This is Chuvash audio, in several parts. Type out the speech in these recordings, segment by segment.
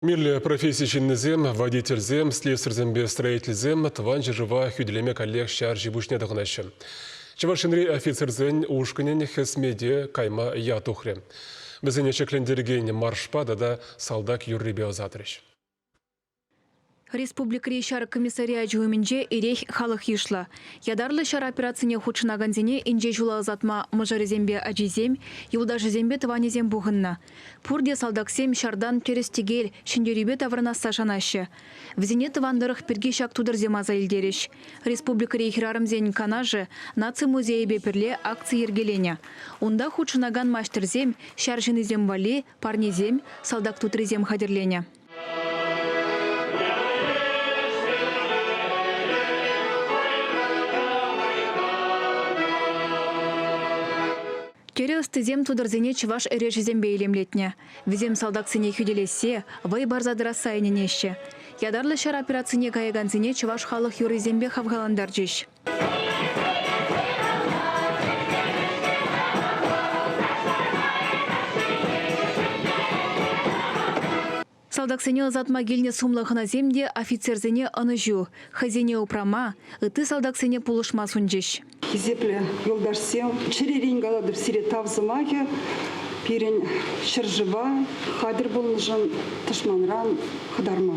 Мирлӗ професси ҫыннисем, водительсем, слесарьсемпе строительсем Тӑван ҫӗршыва хӳтӗлеме каллех ҫар ҫи-пуҫне тӑхӑнаҫҫӗ. Чӑваш Енри офицерсен ушкӑнӗн хӗсмете кайма ят тухрӗ. Вӗсене ҫӗклентерекен маршпа тата салтак юррипе ӑсатрӗҫ. Республикӑри ҫар комиссариачӗ умӗнче эрех халӑх йышлӑ. Ятарлӑ ҫар операцине хутшӑнакансене инҫе ҫула ӑсатма мӑшӑрӗсемпе ачисем, юлташӗсемпе тӑванӗсем пухӑннӑ. Пурте салтаксем ҫартан тӗрӗс-тӗкел, ҫӗнтерӳпе таврӑнасса шанаҫҫӗ. Вӗсене тӑван тӑрӑх пирки ҫак тутӑрсем аса илтерӗҫ. Республикӑри хӗрарӑмсен канашӗ наци музейӗпе пӗрле акци йӗркеленӗ. Унта хутшӑнакан маҫтӑрсем ҫар ҫыннисем валли парнесем, салтак тутрисем хатӗрленӗ. Тӗрӗ ӑстисем тутарсене чӑваш эрешӗсемпе илемлетнӗ. Вӗсем салтаксене хӳтӗлессе, вӑй парса тӑрасса ӗненеҫҫӗ. Ятарлӑ ҫар операцине каякансене чӑваш халӑх юррисемпе хавхалантарчӗҫ. Салтаксене ӑсатма килнӗ сумлӑ хӑнасем те офицерсене ӑнӑҫу, хӑйсене упрама, ытти салтаксене пулӑшма сунчӗҫ. Хисеплӗ юлташсем, чӗререн калатӑп сире тав сӑмахӗ пирӗн ҫӗршыва хатӗр пулнӑшӑн тӑшманран хӑтарма.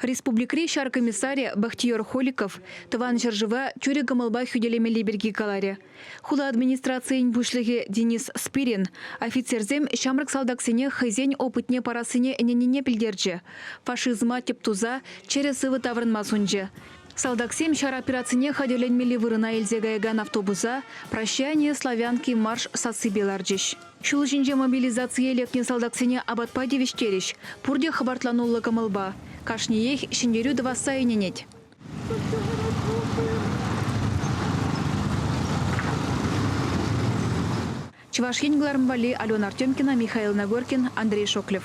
Республикӑри ҫар комиссарӗ Бахтиер Холиков Тӑван ҫӗршыва тӳрӗ кӑмӑлпа хӳтӗлемелли пирки каларӗ. Хула администрацийӗн пуҫлӑхӗ Денис Спирин офицерсем ҫамрӑк салтаксене хӑйсен опытне парассине ӗненнине пӗлтерчӗ, фашизма тӗп туса чӗрӗ-сывӑ таврӑнма сунчӗ. Салтаксем ҫар операцине хатӗрленмелли вырӑна илсе каякан автобуса Прощание славянки марш сассипе ларчӗҫ. Ҫул ҫинче мобилизацие лекнӗ салтаксене апатпа тивӗҫтерӗҫ, пурте хӑпартлануллӑ кӑмӑлпа. Кашниех ҫӗнтерӳ тӑвасса ӗненет. Чӑваш Ен кӑларӑм валли Алена Артемкина, Михаил Нагоркин, Андрей Шоклев.